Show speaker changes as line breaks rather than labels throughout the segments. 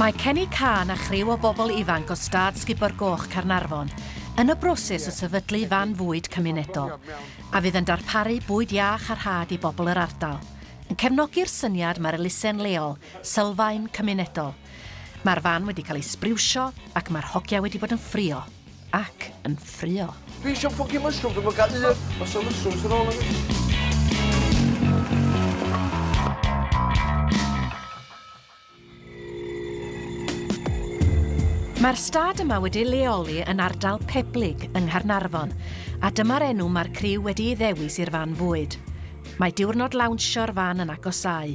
Mae Kenny Cân a chriw o bobl ifanc o Stad Sgubo'r Goch Caernarfon yn y broses o sefydlu fan fwyd cymunedol a fydd yn darparu bwyd iach a rhad i bobl yr ardal, yn cefnogi'r syniad mae'r elusen leol, sylfaen cymunedol. Mae'r fan wedi cael ei sbriwsio ac mae'r hogia wedi bod yn ffrio. ac yn ffrio. Dwi eisiau ffocin
mushroom, dwi'n gael un. Os o'n mushroom sy'n ôl yn
Mae'r stad yma wedi leoli yn ardal Peblig yng Nghaernarfon, a dyma'r enw mae'r criw wedi ei ddewis i'r fan fwyd. Mae diwrnod lawnsio'r fan yn agosáu,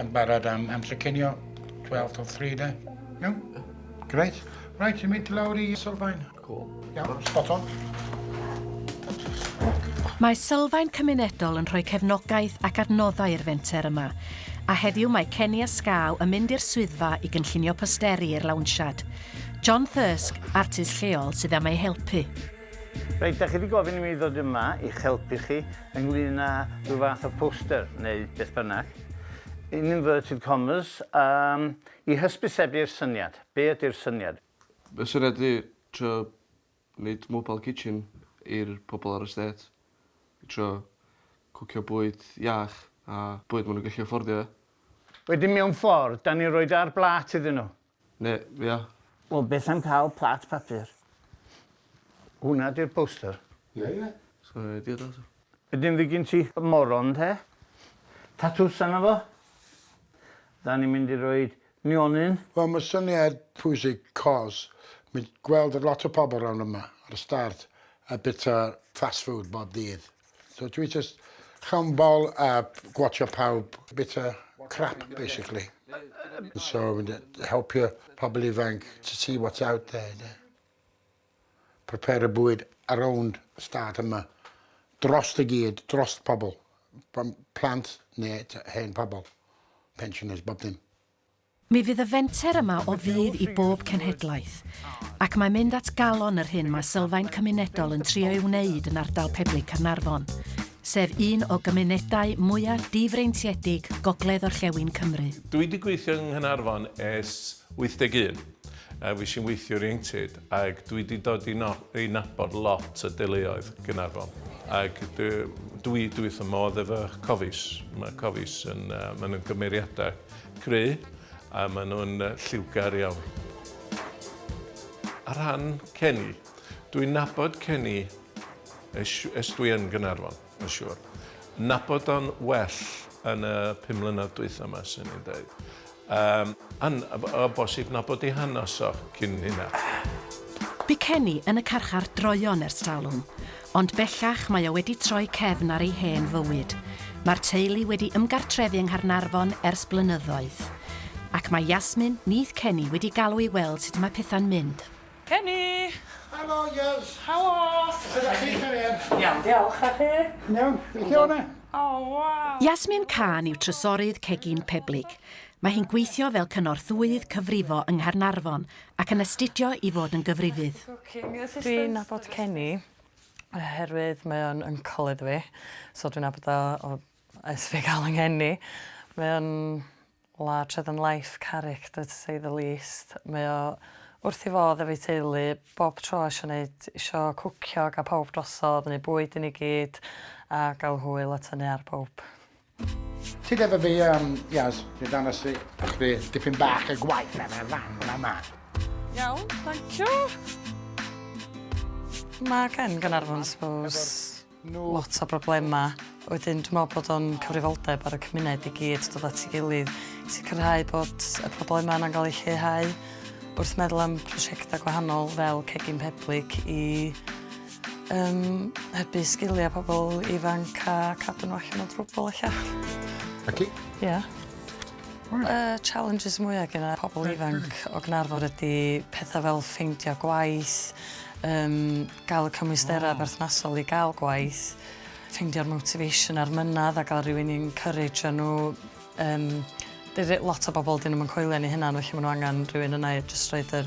Yn barod am amser cinio, 12 till 3 de. Iawn? Greit. Right, ti'n mynd lawr i Sylfaen. Cool. Iawn,
spot on.
Mae Sylfaen Cymunedol yn rhoi cefnogaeth ac adnoddau i'r fenter yma, a heddiw mae Kenny a Scaw yn mynd i'r swyddfa i gynllunio posteri i'r lawnsiad. John Thirsk, artist lleol, sydd am eu helpu. Reit, dach
chi wedi gofyn i mi ddod yma i'ch helpu chi ynglyn â rhyw fath o poster neu beth bynnag, in inverted commas, um, i hysbysebu'r syniad. Be ydy'r syniad? Y syniad ydy
trio wneud mobile kitchen i'r pobl ar y stêt. I trio cwcio bwyd iach a bwyd maen nhw'n gallu affordio. Wedyn mewn
ffordd, 'dan ni'n rhoid e ar blât iddyn nhw. Ne, ia.
Wel, beth am
cael plat papur? Hwna di'r poster. Ie, ie.
Swn i'n idea da. Be dim fi gyn ti?
Moron te. Tatws arno fo. Da ni'n mynd i roed nionyn. Wel mae syniad
pwysig cos mi'n gweld lot o pobl rownd yma ar y start a bita fast food bob dydd. So dwi jyst llawn bol a gwatsio pawb bita crap basically. So helpio pobl ifanc to see what's out there de. Prepare y bwyd ar own stad yma. Drost i gyd, drost pobl. Plant neu hen pobl. Pensioners, bob dim. Mi fydd y
fenter yma o fudd i bob cenhedlaeth, ac mae mynd at galon yr hyn mae Sylfaen Cymunedol yn trio ei wneud yn ardal Peblig Caernarfon, sef un o gymunedau mwyaf difreintiedig gogledd-orllewin Cymru. Dwi wedi gweithio yng
Nghaernarfon ers 81, a fues i'n weithiwr ieuenctid, ac dwi wedi dod i no- i nabod lot o deuluoedd Gaernarfon, ac dwi, dwi, dwi wrth fy modd efo Cofis. Mae Cofis yn, yy, maen nhw'n gymeriadau Cry, a maen nhw'n lliwgar iawn. Ar rhan Kenny, dwi'n nabod Kenny es, es dwi yn Gynarfon, mae'n siŵr. Nabod o'n well yn y pum mlynedd dwytha yma, sy'n ni'n dweud. Um, an, o bosib nabod i hanes o cyn hynna. Bu
Kenny yn y carchar droeon ers talwm, Ond bellach mae o wedi troi cefn ar ei hen fywyd. Mae'r teulu wedi ymgartrefu yng Nghaernarfon ers blynyddoedd. Ac mae Yasmin, nyth Kenny, wedi galw i weld sut mae pethau'n mynd. Kenny!
Helo, girls!
Helo! Sut ydach
chi, cariad?
Iawn, diolch, a chi?
Yn iawn, be chi ôl
'na? O, waw!
Yasmin Khan yw
trysorydd Cegin Peblig. Mae hi'n gweithio fel cynorthwyydd cyfrifo yng Nghaernarfon, ac yn astudio i fod yn gyfrifydd. Dwi'n
nabod Kenny oherwydd mae o'n uncle iddo fi so dwi'n nabod o o ers fi ga'l 'y ngeni. Mae o'n larger than life character to say the least. Mae o wrth 'i fodd efo'i teulu bob tro isio neud isio cwcio a ga'l pawb drosodd neu bwyd i ni gyd a ga'l hwyl a tynnu ar bowb. Ti
efo fi am Iaz, fi dan y si. Ac fi dipyn bach y gwaith ar y fan fyna ma. Iawn,
thank you. Mae gen Gynarfon, suppose lot o broblemau. Wedyn dwi'n meddwl bod o'n cyfrifoldeb ar y cymuned i gyd dod at ei gilydd i sicrhau bod y problemau yna'n cael eu lleihau wrth meddwl am prosiectau gwahanol fel cegin peblig i Yym, hybu sgiliau pobl ifanc a cadw nhw allan
o
drwbl ella. Ac i? Ie. Y challenges mwyaf gyda pobl ifanc o Gnarfon ydy pethau fel ffeindio gwaith, um, gael y cymwysterau oh. berthnasol i gael gwaith, ffeindio'r motivation a'r mynad a gael rhywun i'n encourage nhw. Um, lot o bobl dyn nhw'n coelio ni hynna, felly maen nhw angen rhywun yna i jyst roed yr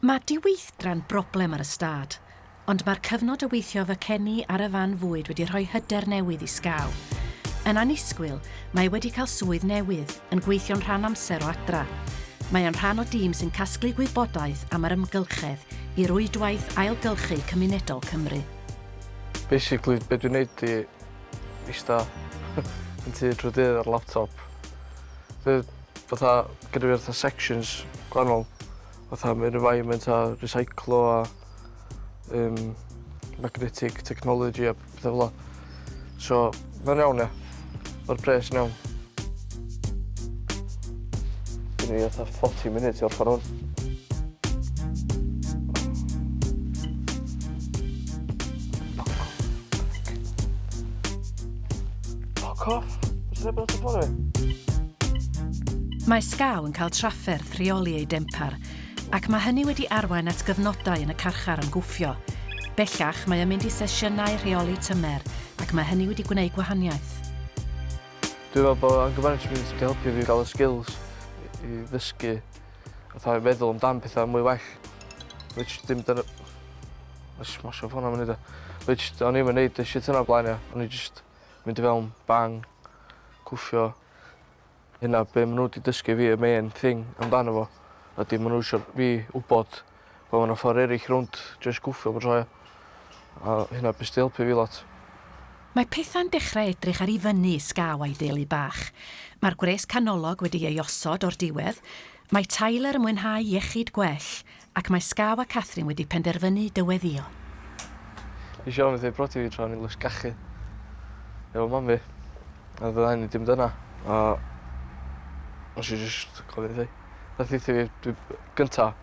Mae diweithdran broblem ar y stad, ond mae'r cyfnod o weithio efo Kenny ar y fan fwyd wedi rhoi hyder newydd i Skaw. Yn annisgwyl, mae e wedi cael swydd newydd, yn gweithio'n rhan amser o adra. Mae e'n rhan o dîm sy'n casglu gwybodaeth am yr ymgylchedd i rwydwaith ailgylchu cymunedol Cymru. Basically,
be' dwi'n neud 'di ista yn tŷ trw'r dydd ar laptop. Dw- fatha gyda fi fatha sections gwahanol fatha ma' un yn environment a recyclo a yym magnetic technology a petha fel 'a. So ma'n iawn ia. Ma'r pres yn iawn. Gen i fatha forty munud i orffan 'wn. Fuck off. What's that about the bottom? Mae
Scaw yn cael trafferth rheoli ei dempar, ac mae hynny wedi arwain at gyfnodau yn y carchar am gwffio. Bellach, mae yn mynd i sesiynau rheoli tymer, ac mae hynny wedi gwneud gwahaniaeth.
Dwi'n meddwl bod anger management wedi helpu fi gael y skills i ddysgu fatha feddwl amdan petha mwy well which dim dyna ma' jys mashing ffona fyny 'da. Which o'n i 'im yn neud y shit yna o blaen ia o'n i jyst mynd i fewn bang cwffio. Hynna be' ma' n'w 'di dysgu fi y main thing amdano fo ydi ma' n'w isio fi wbod Wel ma' 'na ffor eryll rownd jys gwffio bob tro ia? A hynna byth 'di helpu fi lot. Mae
pethau'n dechrau edrych ar i fyny is gaw a'i deulu bach. Mae'r gwres canolog wedi ei osod o'r diwedd, mae Tyler yn mwynhau iechyd gwell, ac mae Skaw a Catherine wedi penderfynu dyweddio. Nes
i ofyn wrth ei brodi fi tra o'n i'n lysgachu efo mam fi, a fydda i 'di mynd yna, a nes i jyst gofyn wrth hi. Nath ddeutha fi dwi gynta,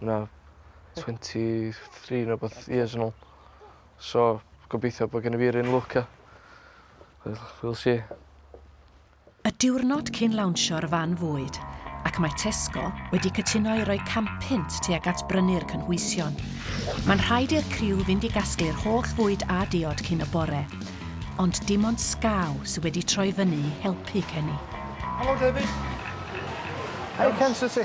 na twenty three ne' wbath years yn ôl. So gobeithio bo' gennyf fi'r un lwc a wel we'll see.
Y diwrnod cyn lawnsio'r fan fwyd, ac mae Tesco wedi cytuno i roi cam punt tuag at brynu'r cynhwysion. Mae'n rhaid i'r criw fynd i gasglu'r holl fwyd a diod cyn y bore, ond dim ond Skaw sydd wedi troi fyny i helpu Kenny. Helo
David.
Hi Ken sut ti?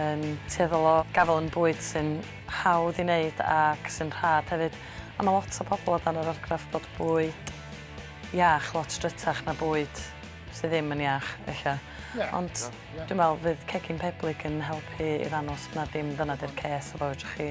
yn tueddol o gafael yn bwyd sy'n hawdd i wneud ac sy'n rhad hefyd, a mae lot o bobl o dan yr argraff bod bwyd iach lot drytach na bwyd sydd ddim yn iach, ella. Yeah, Ond yeah, yeah. dwi'n meddwl fydd cegin Peblig yn helpu i ddangos na dim dyna di'r ces a fawr chi.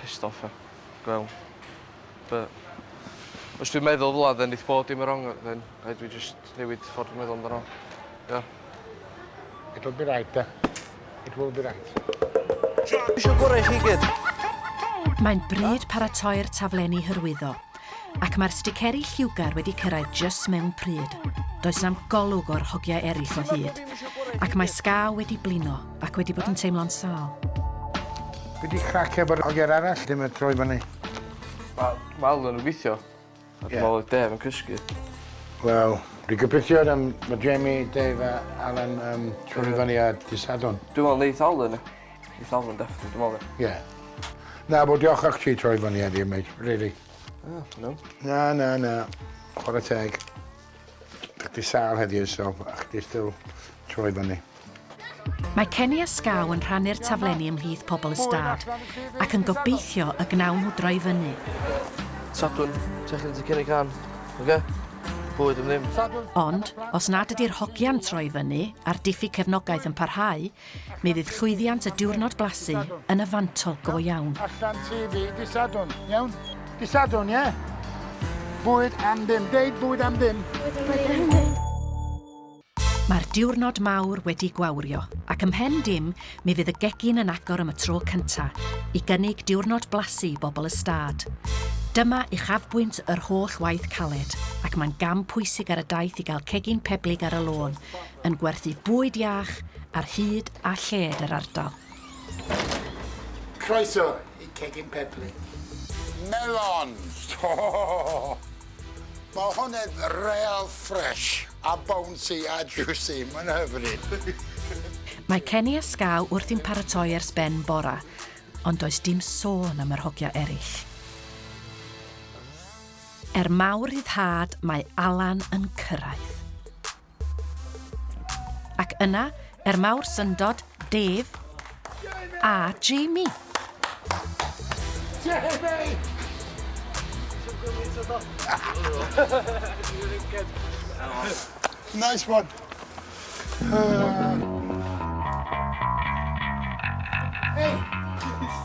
Pissed off ia. Gwel. But os dwi'n meddwl fel 'a then neith bob dim yn wrong then rhaid fi jyst newid ffordd dwi'n meddwl amdano fo. Ia?
It'll be right de. It will be right. Dwi isio
gora i chi gyd. Mae'n
bryd paratoi'r taflenni hyrwyddo. Ac mae'r sticeri lliwgar wedi cyrraedd jyst mewn pryd. Does na'm golwg o'r hogiau eraill o hyd. Ac mae Scar wedi blino ac wedi bod yn teimlo'n sâl.
Be di crac efo'r hogiau'r arall ddim yn troi fyny?
Wel, wel, oedden nhw'n gweithio. A dwi'n meddwl oedd Dave yn cysgu. Wel,
dwi'n gobeithio am Jamie, Dave a Alan troi fyny ar dydd Sadwrn. Dwi'n meddwl neith Alan.
It's all on death, dwi'n meddwl. Ie.
Na, bod diolch o'ch ti troi fyny heddiw, mate, really. Oh,
no. Na, na, na.
Chwarae teg. Dych chi sal heddiw, so, a chdi still troi fyny. Mae
Kenny a Scaw yn rhannu'r taflenni ymhlith pobl y stad, ac yn gobeithio y gnawn nhw droi fyny. Sadwn,
techlyn ti Kenny Can, oce? Okay? bwyd yn ddim. Ond, os
nad ydy'r hogian troi fyny a'r diffyg cefnogaeth yn parhau, Mi fydd llwyddiant y diwrnod blasu yn y fantol go iawn. Allan ti fi,
di Sadwrn, iawn? Di Sadwrn, ie? Bwyd am ddim, deud bwyd am ddim. Bwyd am ddim.
Mae'r diwrnod mawr wedi gwawrio, ac ym mhen dim, mi fydd y gegin yn agor am y tro cynta, i gynnig diwrnod blasu i bobl y stad. Dyma uchafbwynt yr holl waith caled, ac mae'n gam pwysig ar y daith i gael cegin peblig ar y lôn, yn gwerthu bwyd iach ar hyd a lled yr ardal.
Croeso i Cegin Pebli. Melons! Mae hwn yn real fresh a bouncy a juicy, mae'n hyfryd! Mae
Kenny a Skaw wrthi'n paratoi ers ben bora, ond does dim sôn am yr hogia eraill. Er mawr ryddhad mae Alan yn cyrraedd. Ac yna, er mawr syndod, Dave a Jamie!
Jamie! Nice one. Hey!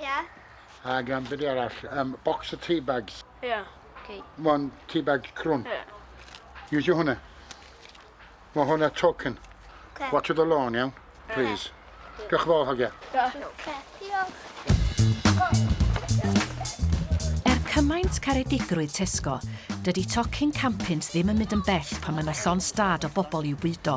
Ie. Ag yym
be' 'di arall? Yym bocs o tea bags.
Ie. Oce. One tea bag
crwn.
Ie. Iwsio hwnna.
Ma' hwnna token. Oce. Watsiwch dy
lôn iawn?
Ie. Plîs. Diolch yn fawr hogia. Diolch. Oce.
Diolch.
Er cymaint caredigrwydd Tesco, dydi tocyn campynt ddim yn mynd yn bell pan mae 'na llond stad o bobl i'w bwydo.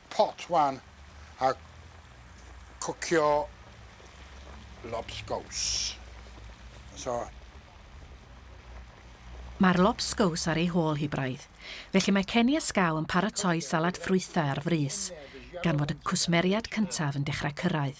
pot wan a cwcio lobsgows. So.
Mae'r lobsgows ar ei hôl hi braidd, felly mae Kenny a Skaw yn paratoi salad ffrwythau ar frys, gan fod y cwsmeriad cyntaf yn dechrau cyrraedd.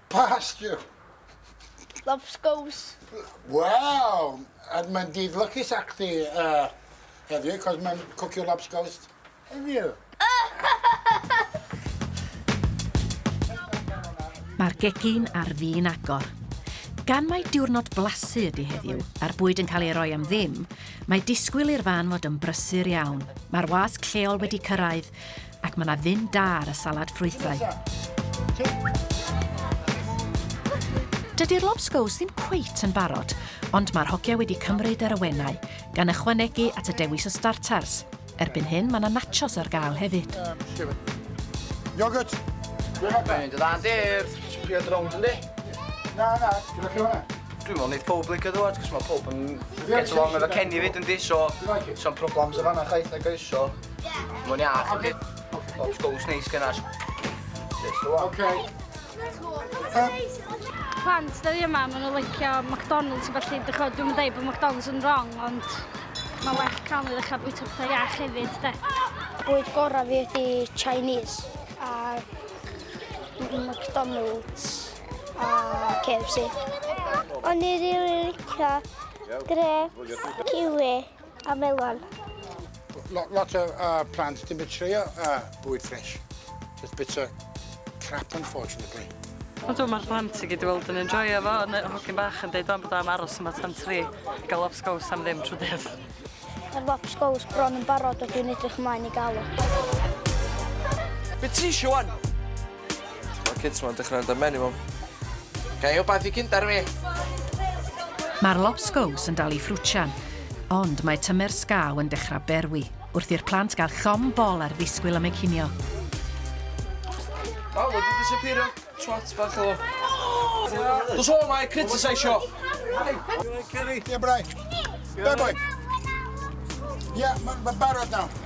Pastio.
Lobsgows.
Waw! A mae'n dydd lwcus ac ti uh, heddiw, cos mae'n cwcio lobsgows heddiw.
Mae'r gegin ar fin agor. Gan mai diwrnod blasu ydy heddiw, a'r bwyd yn cael ei roi am ddim, mae disgwyl i'r fan fod yn brysur iawn. Mae'r wasg lleol wedi cyrraedd, Ac mae yna ddim da ar y salad ffrwythau. Dydy'r lobscows ddim cweit yn barod, ond mae'r hogia wedi cymryd yr awenau, gan ychwanegu at y dewis o starters. Erbyn hyn, mae yna nachos ar gael hefyd.
Yogurt! Dwi'n dod a'n
dir! Sbio dy rownd yn di? Na, na, dwi'n ac hwnna. Dwi'n
meddwl wneud pob licio
ddwad, cos mae pob yn get along efo Kenny fyd yn di, so... So'n problems o fanna chwaith na guys, so... Mae'n iach yn dweud. O'r sgwrs neis gynnar.
Ok. Plant, da ni yma, maen nhw'n licio McDonald's i falle. Dwi'n chod, dwi'n dweud bod McDonald's yn wrong, ond mae well cael ei ddechrau bwyta pethau iach hefyd, de. Bwyd gorau
fi ydi Chinese a McDonald's a KFC. O'n i rili licio grep, kiwi. A melon. Lot,
lot o uh, plant dim yn trio uh, bwyd ffres. Just bits of crap, unfortunately. Ond dwi'n mae'r
plant i gyd i weld yn enjoyo fo, yn y hogyn bach yn dweud o'n bod am aros yma tan tri, gael lobsgows am ddim trwy dydd. Mae'r
lobsgows bron yn barod o dwi'n edrych ymlaen i gael o.
Be ti eisiau wan? Ma'r
kids ma'n dechra mynd ar mhen i mam. Ga i wbath i Kinder fi?
Ma'r lobsgows yn dal i ffrwtsio'n, ond mae tymer sgaw yn dechrau berwi, wrth i'r plant gael llom bol ar ddisgwyl am eu cinio.
Wel, wedi disappeario, twat bach o. Dos o mae critiseisio!
Ie, brai. Be boi? Ie, mae'n barod nawr.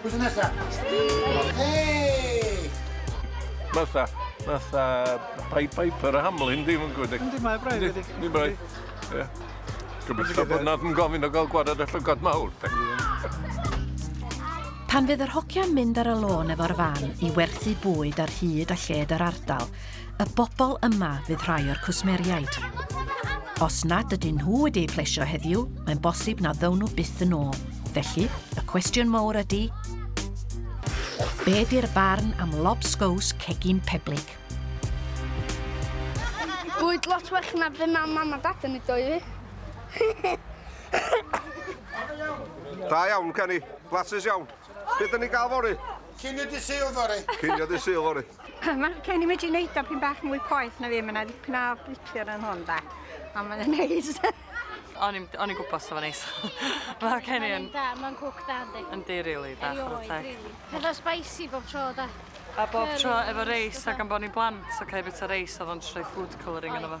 Pwy sy'n nesa? Hei! Matha,
matha Pied Piper a Hamlin, dim yn gwybod. Yndi, mae braidd wedi. Yndi,
braidd.
Ie. Gobeithio bod nad yn gofyn o gael gwared y llygod mawr.
Pan fydd yr hogiau'n mynd ar y lôn efo'r fan i werthu bwyd ar hyd a lled yr ardal, y bobl yma fydd rhai o'r cwsmeriaid. Os nad ydyn nhw wedi eu plesio heddiw, mae'n bosib na ddown nhw byth yn ôl. Felly, y cwestiwn mowr ydy, be di'r barn am lobsgows cegin peblig?
Bwyd lot well na fe mae mam a dad yn ei doi fi.
Da iawn, Kenny. Blasus iawn. Beth dyn ni gael fori? Cynio di syl
fori. Cynio di syl fori.
Mae gen i wedi
wneud o pyn bach mwy poeth na fi, mae yna ddipyn o blipio yn hwn da. A mae'n yn neis.
O'n i'n gwybod sef o'n neis. Mae gen i yn... Mae'n cwc da,
ynddi. Yndi, rili, da. Erioed,
rili. Hefo
spicy bob tro, da. A bob tro
efo reis, ac am bod ni'n blant, so cael bit o reis oedd o'n troi food colouring yno fo.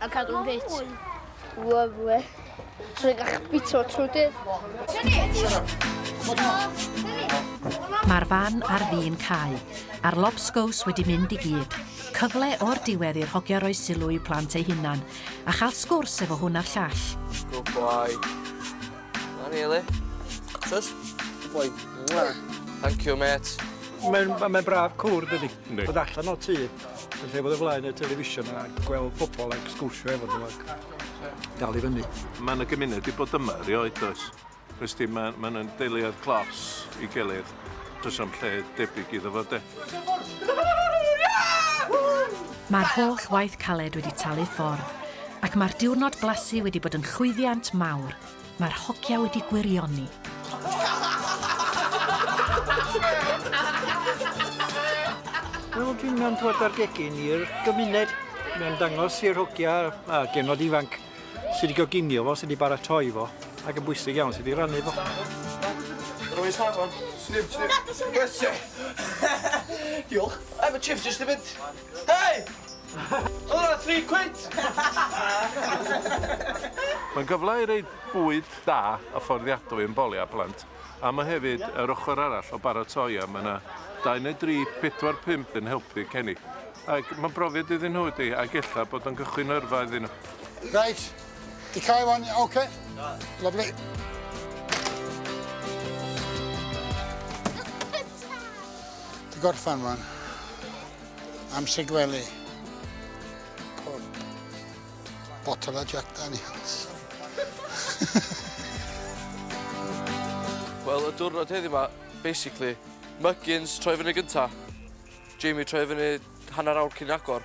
A cadw'n ffit. Lyfli. Trwy
ga'ch
bito trwy dydd.
Mae'r fan ar fin cau, a'r lobsgows wedi mynd i gyd. Cyfle o'r diwedd i'r hogia roi sylw i'w plant eu hunan, a chael sgwrs efo hwn a'r llall. Good boy. Na ni,
Eli. Sus? Good boy. Thank you, mate. Mae'n mae
braf cwr, dydy. Yndi. Bod allan o'r tŷ, yn lle bod o flaen y television a gweld pobl ac sgwrsio efo nhw ac dal i fyny. Mae yna gymuned wedi bod
yma erioed does? Wnes di, mae ma nhw'n deiliad glos i gilydd. Does am lle debyg iddo fo de.
Mae'r holl waith caled wedi talu ffordd ac mae'r diwrnod blasu wedi bod yn chwyddiant mawr. Mae'r hogia wedi gwirioni.
Wel, dwi'n mewn dwad ar gegin i'r gymuned. Mae'n dangos i'r hogia a genod ifanc sydd wedi goginio fo, sydd wedi baratoi fo, ac yn bwysig iawn sydd wedi rannu fo.
Rwy'n safon. Snip, snip. Diolch. Efo chips jyst i fynd. Hei! Hwra tri cwit!
Mae'n gyfle i roi bwyd da a fforddiadwy i'n boliau a plant, a mae hefyd yr ochr arall o baratoi a mae yna dau neu dri, pedwar, pump yn helpu Kenny. Ac mae'n brofiad iddyn nhw ydy, ac ella bod o'n gychwyn yrfa iddyn nhw. Reit, ti
cau wan, ok? Lyfli. Tata! Di gorffan rwan. Amser gwely. Pob. Botol a Jack Daniels.
Wel, y diwrnod heddi yma, basically, Muggins troi fyny gynta. Jamie troi fyny hanner awr cyn agor.